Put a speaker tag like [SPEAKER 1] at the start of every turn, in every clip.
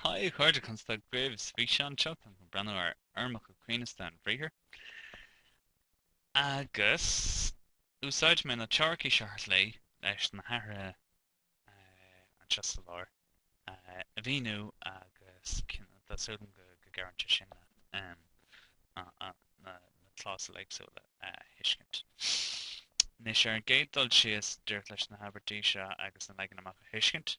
[SPEAKER 1] Haigh a chairde, conas tá agaibh? Sa bhfíseán seo táim chun breathnú ar fhoirmeacha coibhneasta an bhriathair agus úsáidfidh mé na teoiricí seo ar chlé leis na hathruithe anseo sa lár a mhíniú agus tá súil agam go gcabhraíonn sé sin leat na clásail éagsúla a thuiscint. Anois ar an gcéad dul síos, díreach leis na habairtí seo agus an leagan amach a thuiscint,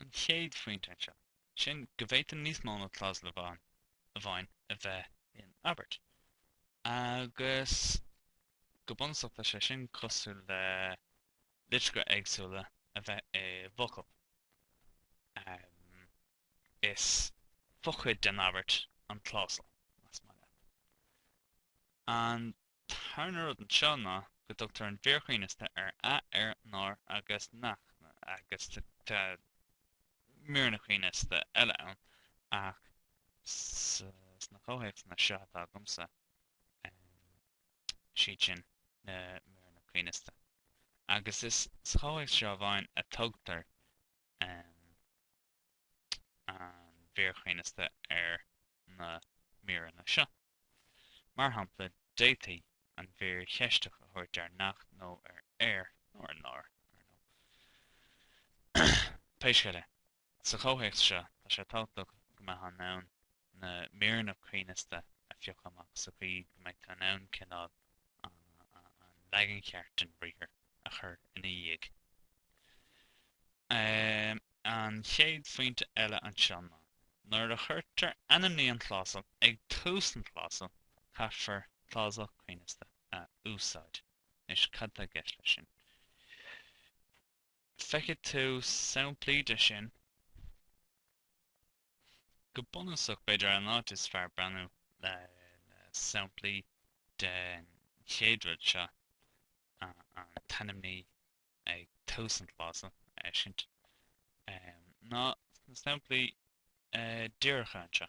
[SPEAKER 1] An chéad phointe anseo, sin go bhféadann níos mó ná clásal amháin a bheith in abairt. Agus go bunúsach tá sé sin cosúil le litreacha éagsúla a bheith i bhfocal. Um, is fochuid den abairt an clásal, más maith leat. An tarna rud anseo ná go dtugtar an mhír choibhneasta ar a, ar, nár agus nach, agus tá míreanna coibhneasta eile ann ach sna comhthéacsanna seo atá agamsa, siad sin na míreanna coibhneasta. Agus is sa chomhthéacs seo amháin a tugtar. an mhír choibhneasta ar na míreanna seo. Mar shampla, d'fhéadfaí an mhír cheisteach a thabhairt ar nach nó ar ar nó ar nár. Pé scéal é, sa chomhthéacs seo, tá sé tábhachtach go mbeifeá in ann na míreanna coibhneasta a phiocadh amach sa chaoi go mbeidh tú in ann cineál an leagan cheart den bhriathar a chur ina dhiaidh. Um, an chéad phointe eile anseo ná nuair a chuirtear ainmní an chlásal ag tús an chlásal caithfear clásal coibhneasta a úsáid. Anois cad tá i gceist leis sin. Feicfidh tú samplaí de sin. Go bunúsach, b'fhéidir, an áit is fearr breathnú le samplaí den chéad riail seo, an t-ainmní ag tús an chlásal, a fheiscint, ná sna samplaí díreacha anseo.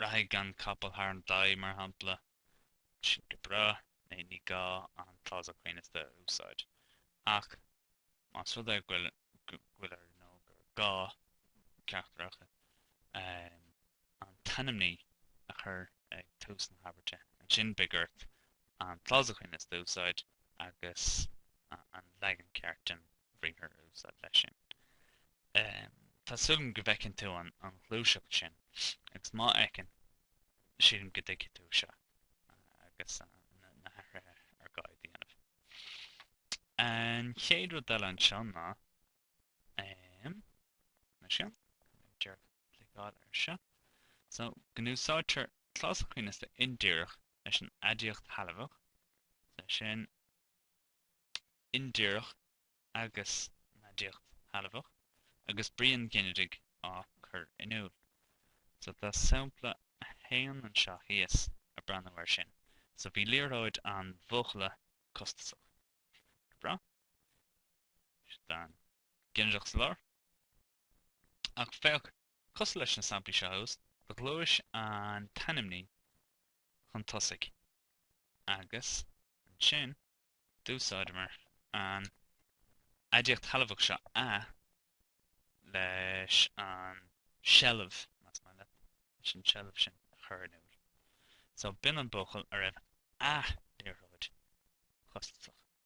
[SPEAKER 1] Rachaidh an capall thar an gclaí, mar shampla, sin go breá, ní gá an clásal coibhneasta a úsáid. Ach más rud é go bhfuil ar nó gur gá ceachtar acu an t-ainmní a chur ag tús na habairte, ansin beidh ort an clásal coibhneasta a úsáid agus an leagan ceart den bhriathar a úsáid leis sin. Tá súil agam go bhfeiceann tú an ghluaiseacht sin agus má fheiceann, sílim go dtuigfidh tú seo agus na hathruithe ar gá a dhéanamh. An chéad rud eile anseo ná, mar sin, déarfá cliceáil ar seo, so, go n-úsáidtear clásal coibhneasta indíreach leis an aidiacht shealbhach, so sin, indíreach agus an aidiacht shealbhach agus brí an ghinidigh á cur in iúl. So tá sampla 1 anseo thíos ag breathnú air sin. So bhí liathróid an bhuachalla costasach. Go breá. Tá an ginideach sa lár. Ach féach, cosúil leis na samplaí seo thuas, do ghluais an t-ainmní chun tosaigh, agus ansin d'úsáideamar an aidiacht shealbhach seo a leis an seilbh, más maith leat, leis an seilbh sin a chur in iúl. So, b'in an buachaill a raibh a liathróid costasach.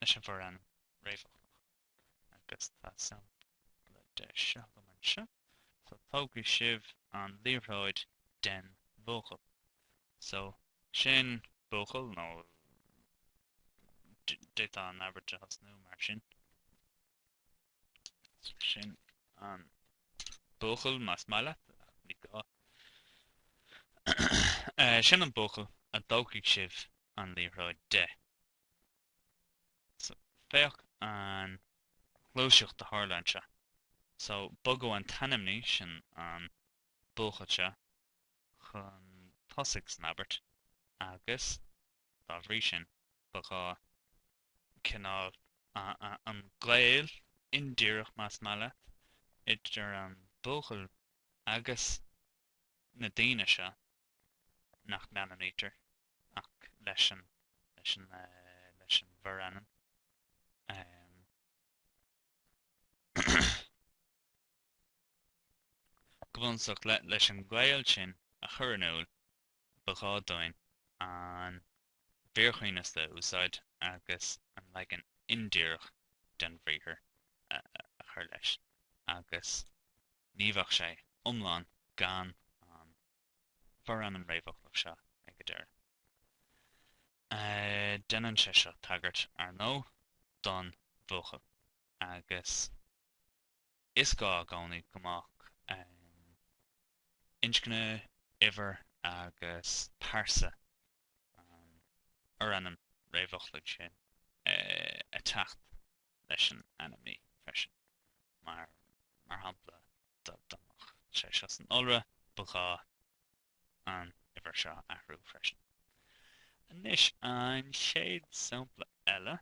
[SPEAKER 1] leis an bhforainm réamhfhoclach agus tá sampla de seo agam anseo. So tógfaidh sibh an liathróid den bhuachaill. So sin buachaill nó d'fhéadfá an abairt a thosnú mar sin. Sin an buachaill más maith leat, ach ní gá. Sin an buachaill a dtógfaidh sibh an liathróid de. So, féach an ghluaiseacht a tharla anseo. So, bogadh an t-ainmní sin, an buachaill seo, chun tosaigh san abairt agus, dá bhrí sin, ba ghá cineál an gaol indíreach, más maith leat, idir an buachaill agus na daoine seo nach mbeannaítear ach leis an leis an leis an bhforainm. Go bunúsach, leis an ngaol sin a chur in iúl, ba ghá dúinn an mhír choibhneasta a úsáid agus an leagan indíreach den bhriathar a chur leis, agus ní bheadh sé iomlán gan an forainm réamhfhoclach seo ag an deireadh. Déanann sé seo tagairt, ar ndóigh, don bhuachaill agus. is gá i gcónaí go mbeadh inscne, uimhir agus pearsa an fhorainm réamhfhoclaigh sin ag teacht leis an ainmní freisin. Mar shampla, dá mbeadh sé seo san iolra, ba ghá an uimhir seo a athrú freisin. Anois, an chéad sampla eile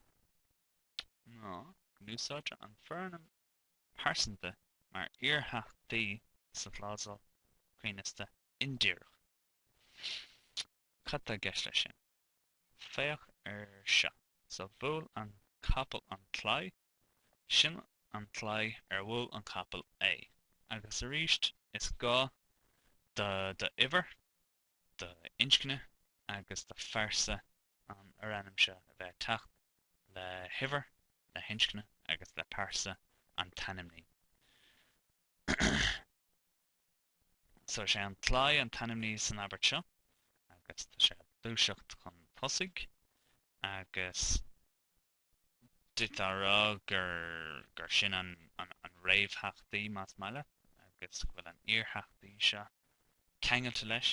[SPEAKER 1] ná go n-úsáidtear an forainm pearsanta mar iartheachtaí sa chlásal coibhneasta indíreach. Cad tá i gceist leis sin? Féach ar seo. So bhuail an capall an claí, sin an claí ar bhuail an capall é. Agus arís, is gá d'uimhir, do inscne agus do phearsa an fhorainm seo a bheith ag teacht le huimhir, le hinscne agus le pearsa an t-ainmní. Is é an claí an t-ainmní san abairt seo agus tá sé ar dtús ag teacht chun tosaigh agus d'fhéadfá a rá gur sin an réamhtheachtaí más maith leat agus go bhfuil an iartheachtaí seo ceangailte leis.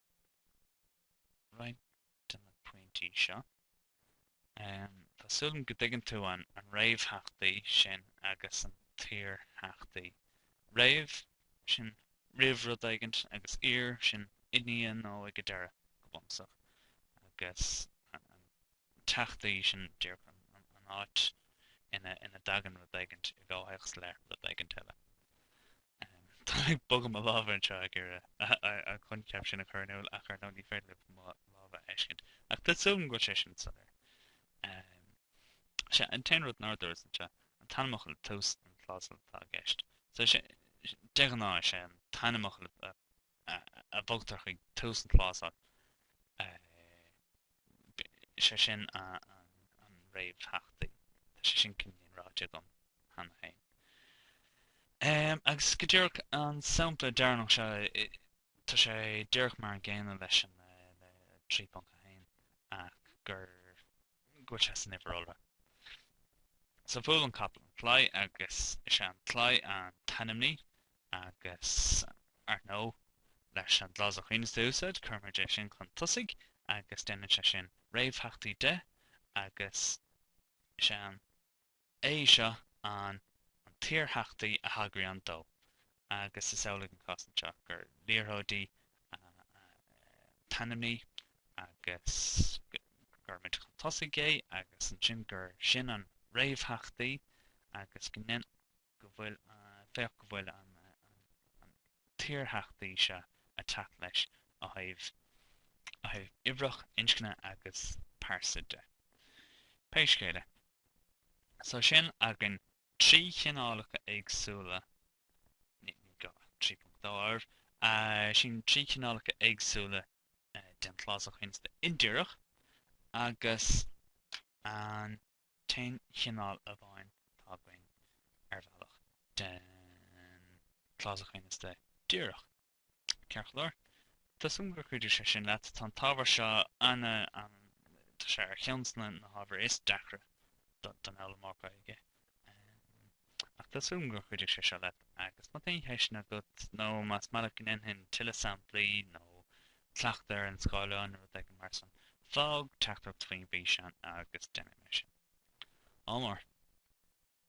[SPEAKER 1] roinnt de na pointí seo. Tá súil agam go dtuigeann tú an réamhtheachtaí sin agus an t-iartheachtaí. Réamh, sin roimh rud éigin, agus iar, sin i ndiaidh nó ag an deireadh, go bunúsach. Agus an teachtaí, sin díreach an áit ina dtagann rud éigin i gcomhthéacs le rud éigin eile. Táim ag bogadh mo lámha anseo ag iarraidh an coincheap sin a chur in iúl ach ar ndóigh ní féidir libh mo lámha a fheiscint. Ach tá súil agam go bhfuil sé sin soiléir. Sea, an t-aon rud nár dúras anseo, an t-ainmfhocal i dtús an chlásail atá i gceist. Sea, de ghnáth is é an t-ainmfhocal atá a bhogtar chuig tús an chlásail, sé sin an réamhtheachtaí. Tá sé sin cineál ráite agam cheana féin. Agus go díreach an sampla deireanach seo, tá sé díreach mar an gcéanna leis an 3.1 ach gur go bhfuil sé san uimhir iolra. So bhuail an capall an claí agus is é an claí an t-ainmní agus ar ndóigh leis an gclásal choibhneasta a úsáid cuirimid é sin chun tosaigh agus déanann sé sin réamhtheachtaí de agus is é an é seo an an t-iartheachtaí a thagraíonn dó agus is amhlaidh an cás anseo, gur liathróidí an t-ainmní agus cuirimid chun tosaigh é agus ansin gur sin an réamhtheachtaí agus go ndein go bhfuil féach go bhfuil an an t-iartheachtaí seo ag teacht leis ó thaobh ó thaobh uimhreach, inscne agus pearsa de. Pé scéal é, So sin againn trí chineálacha éagsúla, ní gá 3.2 air, sin trí chineálacha éagsúla den chlásal choibhneasta indíreach agus an t-aon chineál amháin atá againn ar bhealach den chlásal choibhneasta díreach. Ceart go leor, tá súil agam gur chuidigh sé sin leat. Tá an t-ábhar seo ana, ana, tá sé ar cheann de na hábhair is deacra don fhoghlaimeoir Gaeilge. Ach tá súil agam gur chuidigh sé seo leat. Agus má tá aon cheisteanna agat nó más maith leat go ndéanfainn tuilleadh samplaí nó cleachtadh ar an scáileán nó rud éigin mar san, fág teachtaireacht faoin bhfíseán agus déanfaidh mé sin. Ádh mór.